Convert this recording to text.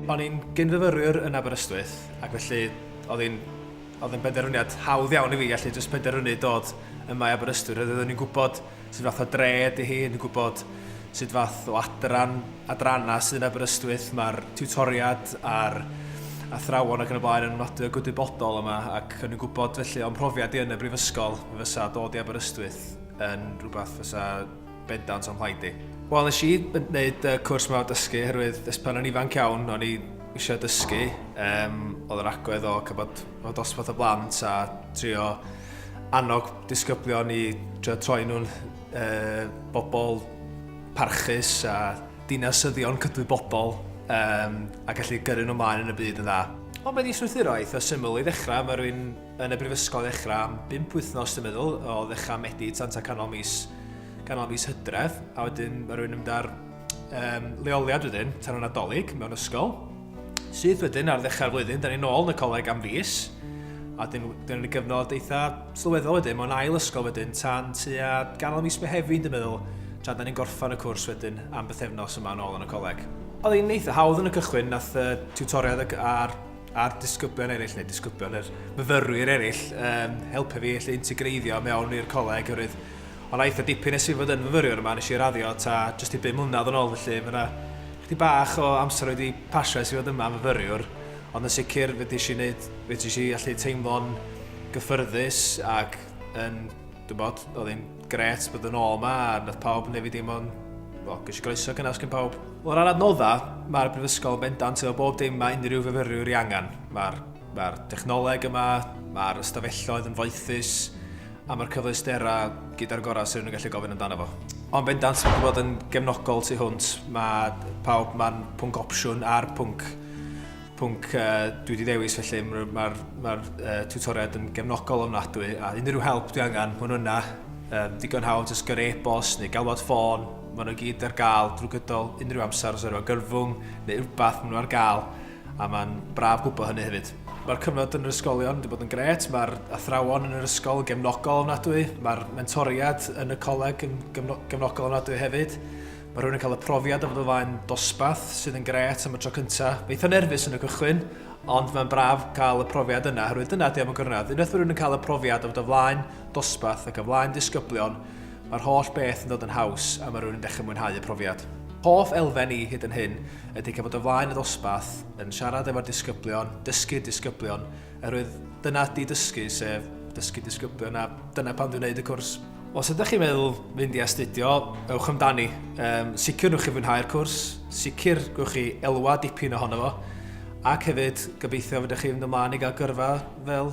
O'n i'n gyn-fyfyrwyr yn Aberystwyth ac felly oedd hi'n oedd hi'n benderfyniad hawdd iawn i fi allu jyst penderfynu dod yma i Aberystwyth oherwydd o'n i'n gwybod sut fath o dre ydy hi, yn gwybod sut fath o adran, adrannau sydd yn Aberystwyth, mae'r tiwtoriad a'r athrawon ac yn y blaen yn nodwedd gwydybodol yma ac yn gwybod felly o'n profiad i yn y brifysgol fysa dod i Aberystwyth yn rhywbeth fysa bendant o'n mhlaid i. Wel, nes i wneud y cwrs yma o dysgu, herwydd ys pan o'n ifanc iawn, o'n i eisiau dysgu, um, oedd yr agwedd o cybod o dosbarth o blant a trio annog disgyblion i trio troi nhw'n uh, bobl parchus a dinasyddion cydwybodol um, a gallu gyrru nhw maen yn y byd yn dda. Ond mae di strwythuro eitha syml i ddechrau, mae rwy'n yn y brifysgol ddechrau am 5 wythnos dwi'n meddwl, o ddechrau Medi tan ta canol mis, canol mis hydref, a wedyn mae rwy'n ymda'r um, leoliad wedyn tan y Nadolig mewn ysgol. Sydd wedyn ar ddechrau'r flwyddyn, da ni'n ôl yn y coleg am fus. A dyn ni'n gyfnod eitha sylweddol wedyn, mae'n ail ysgol wedyn tan tua ganol mis Mehefin, dwi'n meddwl, tra da ni'n gorffan y cwrs wedyn am bythefnos yma yn ôl yn y coleg. Oedd hi'n eitha hawdd yn y cychwyn, nath y tutoriad a'r, ar disgyblion eraill, neu disgyblion, yr myfyrwyr eraill, um, helpu fi allu integreiddio mewn i'r coleg, oherwydd Ond aeth o dipyn nes i fod yn fyfyriwr yma, nes i raddio ta jyst i bum mlynedd yn ôl felly ma' 'na chydig bach o amser wedi pasio es i fod yma yn fyfyriwr, ond yn sicr fedrish i neud, fedrish i allu teimlo'n gyffyrddus ac yn, dwi'n bod, oedd hi'n gret bod yn ôl yma a nath pawb neu fi deimlo'n, wel, ges i groeso cynnes gen pawb. O ran adnoddau, mae'r Brifysgol bendant efo bob dim mae unrhyw fyfyriwr ei angen. Mae'r mae'r dechnoleg yma, mae'r ystafelloedd yn foethus, A mae'r cyfleusterau gyda'r gorau sydd yn gallu gofyn amdano fo. Ond bendant, sy'n gwybod yn gefnogol tu hwnt, mae pawb, mae'n pwnc opsiwn a'r pwnc, pwnc uh, dwi wedi dewis felly, mae'r ma ma uh, tutoriad yn gefnogol ofnadwy, a unrhyw help dwi angen, maen nhw yna, um, digon hawdd, jyst gyrru e-bost neu galwad ffôn, maen nhw gyd ar gael drwy gydol unrhyw amser os yw'n gyrfwng neu rhywbeth maen nhw ar gael. a mae'n braf gwybod hynny hefyd. Mae'r cyfnod yn yr ysgolion wedi bod yn gret, mae'r athrawon yn yr ysgol yn gefnogol ofnadwy, mae'r mentoriad yn y coleg yn gefnogol ofnadwy hefyd. Mae rhywun yn cael y profiad o fod o flaen dosbath sydd yn gret am y tro cyntaf. Mae eitha nerfus yn y cychwyn, ond mae'n braf cael y profiad yna, herwydd dyna di am y gwrnedd. Unwaith mae rhywun yn cael y profiad o fod o flaen dosbath ac o flaen disgyblion, Mae'r holl beth yn dod yn haws a mae rhywun yn dechrau mwynhau y profiad. Hoff elfen i hyd yn hyn ydy cael bod o flaen y ddosbarth, yn siarad efo'r disgyblion, dysgu'r disgyblion, oherwydd dyna ydy dysgu, sef dysgu disgyblion a dyna pan dwi'n gwneud y cwrs. Os ydych chi'n meddwl fynd i astudio, ewch amdani. Um, sicr nwch chi fwynhau'r cwrs, sicr gwch chi elwa dipyn ohono fo, ac hefyd gobeithio fydych chi'n mynd ymlaen i gael gyrfa fel